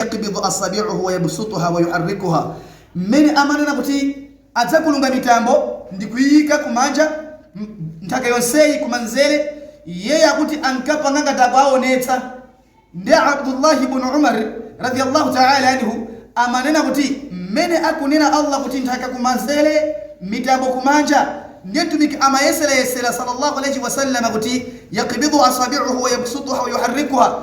yakbidhu asabi'uhu wa yabsutuha wa yuharrikuha, mmene amanena kuti adzakulunga mitambo ndi kuiyika kumanja, nthaka yonseyi kumanzere, iyeyo akuti ankapanga ngati akuwaonetsa, ndi Abdullah ibn Umar radiyallahu ta'ala anhu amanena kuti mmene akunena Allah kuti nthaka kumanzere, mitambo kumanja, ndiye Mtumiki amayeserayesera sallallâhu alaihi wa sallam kuti yakbidhu asabi'uhu wa yabsutuha wa yuharrikuha,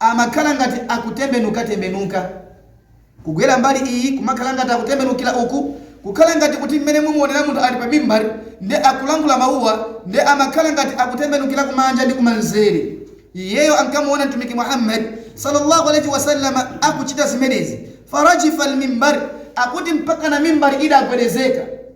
amakhala ngati akutembenukatembenuka, kugwera mbali iyi, kumakhala ngati akutembenukira uku, kukhala ngati kuti mmene mumuonera munthu ali pa mimbar nde akulankhula mawuwa nde amakhala ngati akutembenukira kumanja ndi kumanzere. Iyeyo ankamuona Mtumiki Muhammad salla Allah alaih wasallam akuchita zimenezi. Farajifal mimbar, akuti mpakana mimbar idagwedezeka.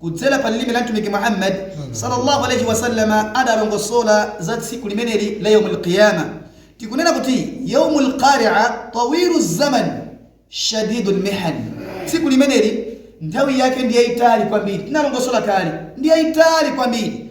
Kudzera pa lilime la Mtumiki Muhammad, Sallallahu Alayhi Wasallam, adalongosola za tsiku limeneli la Yawmul Qiyama. Tikunena kuti Yawmul Qari'a tawilu zaman shadidul mihan. Tsiku limeneli nthawi yake ndi yaitali kwambiri. Tinalongosola kale, ndi yaitali kwambiri.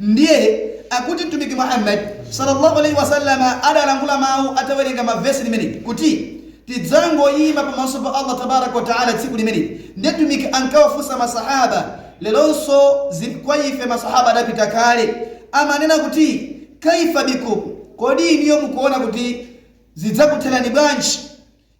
Ndiye akuti Mtumiki Muhammad, Sallallahu Alayhi Wasallam, adalankhula mawu atawerenga verse limeneli kuti, Tidzangoima pamaso pa Allah Tabaaraka Wa Ta'ala tsiku limeneli, ndiye Mtumiki ankawafunsa ma Sahaba, leronso zili kwa ife ma Sahaba adapita kale, amanena kuti, Kaifa bikum, Kodi inuyo mukuona kuti zidzakutherani bwanji?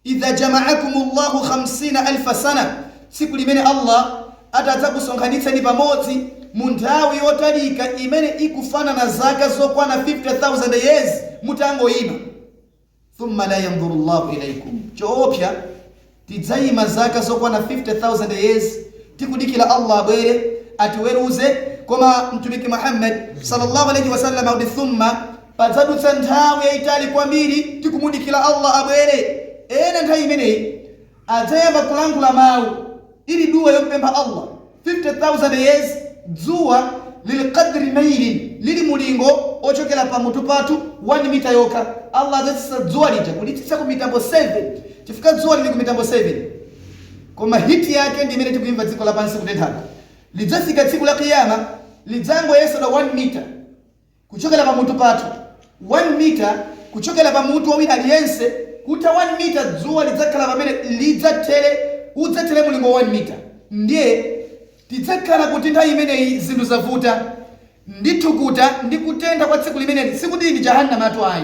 Idha jama'akumullahu khamsina alfa sana, tsiku limene Allah ati adzakusonkhanitseni pamodzi mu nthawi yotalika imene ikufanana ndi zaka zokwana 50,000 years mutangoima. Thumma la yanzurullahu ilaikum, choopsya tidzaima zaka zokwana 50,000 years tikudikila Allah abwere atiweruze koma Mtumiki Muhammad sallallâhu alaihi wa sallam akuti, Thumma. Padzadutsa nthawi yaitali kwambiri tikumudikila Allah abwere. Ena nthawi imeneyi adzayamba kulankhula mau ili dua yomupempha Allah, 50000 years dzuwa lili qadri milin, lili mulingo wochokera pa mutu pathu 1 mita yokha, Allah adzatsitsa dzuwa lija kulitsitsa ku mitambo 7 chifukwa dzuwa lili ku mitambo 7 koma heat yake ndi imene tikuimva dziko lapansi kutenthako. Lidzafika tsiku la Qiyamah lidzangoyesedwa 1 mita. kuchokera pamutu pathu, 1 mita kuchokera pa mutu wa aliyense, kutha 1 mita, dzuwa lidzakhala pamene lidzathere, udzathere mulingo wa 1 mita. Ndiye tidzakhala kuti nthawi imeneyi zinthu zavuta, ndi thukuta ndi kutentha kwa tsiku limeneli, sikuti ndi Jahannamatu ayi.